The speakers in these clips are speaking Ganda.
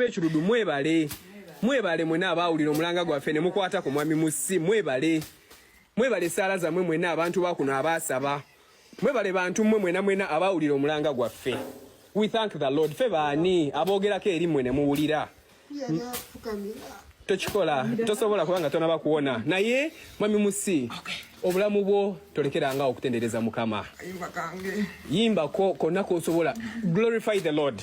ekirudu mwebale mwebale mwena abaawulira omulanga gwaffe ne mukwata ku mwami musi mwebale mwebale esaala zammwe mwena abantu bakuno abaasaba Mwebale bantu mwe mwena mwena abawulira omulanga gwaffe. We thank the Lord. Fe baani aboogerako eri mwe ne muwulira. Tokikola, tosobola kubanga tonaba kuwona. Naye mwami Musi, obulamu bwo tolekeranga okutendereza Mukama. Yimba ko konna k'osobola. Glorify the Lord.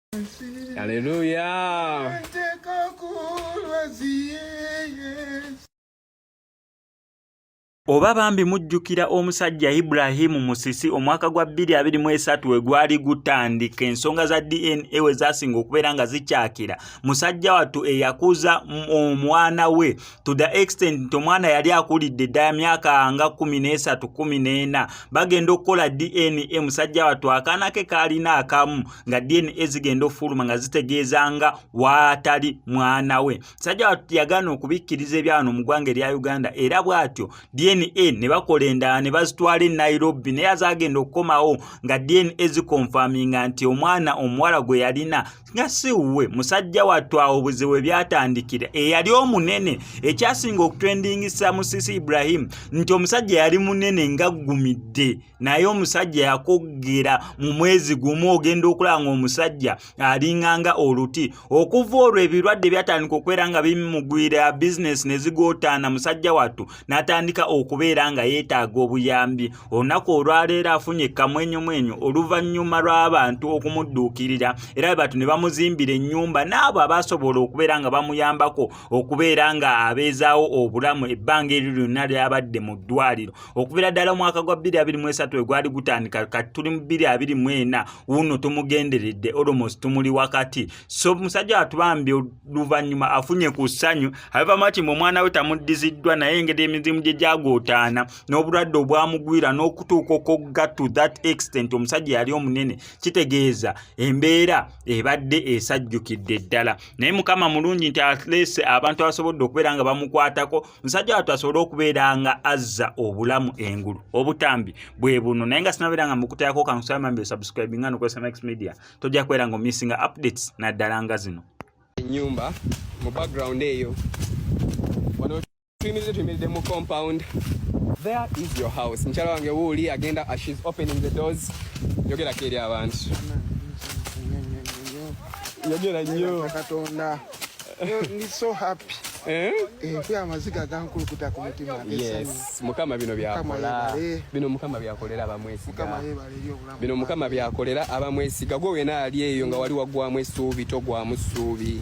Haleluya. Oba bambi mujjukira omusajja Ibrahim Musisi omwaka gwa 2023 we gwali gutandika ensonga za DNA we zasinga okubeera nga zikyakira musajja wattu eyakuza omwana we to the extent nti omwana yali akulidde ddala myaka nga 13 14 bagenda okukola DNA musajja wattu akaana ke kaalina akamu nga dna zigenda ofuluma nga zitegeeza nga waatali mwana we sajja watu yagaana okubikkiriza ebyawano mu ggwanga erya uganda era bw'atyo dna ne bakola endala ne bazitwala e nairobi naye azagenda okukomawo nga dna zikonfaminga nti omwana omuwala gwe yalina nga si wuwe musajja wattu awo obuzibu we byatandikira eyali omunene ekyasinga okutwendingisa musisi ibrahimu nti omusajja yali munene ngaggumidde naye omusajja yakuggera mu mwezi gumu ogenda okulaba ng'omusajja alinganga oluti okuva olwo ebirwadde byatandika okubeera nga bimugwira bizinesi ne zigootaana musajja wattu n'atandika okubeera nga yeetaaga obuyambi olunaku olwaleero afunye kamwenyumwenyu oluvannyuma lw'abantu okumudduukirira era bebatu ne bamuzimbira ennyumba n'abo abaasobola okubeera nga bamuyambako okubeera nga abeezaawo obulamu ebbanga eryo lyonna lyabadde mu ddwaliro okubira ddala omwaka gwa 223 we gwali gutandika kati tuli mu 224 wuuno tumugenderedde almost tumuli wakati so musajja watubambye oluvannyuma afunye ku ssanyu abeva mati mu omwana we tamuddiziddwa naye engeri emizimu gye gyagootaana n'obulwadde obwamugwira n'okutuuka okugga to that extent omusajja yali omunene kitegeeza embeera ebadde esajjukidde ddala naye mukama mulungi nti atlease abantu abasobodde okubeera nga bamukwatako musajja watu asobole okubeera nga azza obulamu engulu obutambi bwe buno naye nga sinabeera nga mukutayako kankusaamambi osubscribe nga nokozesa max media tojja kubeera nga omissinga updates naddala nga zino enyumba mu background eyo wano tuyimiridde tuyimiridde mu compound there is your house mukyala wange wuuli agenda as she's opening the doors yogerako eri abantu yogera nnyo mukama bino byakola bino mukama byakolera abamwesiga bino mukama byakolera abamwesiga gwe wena ali eyo nga wali wagwamu esuubi togwamu suubi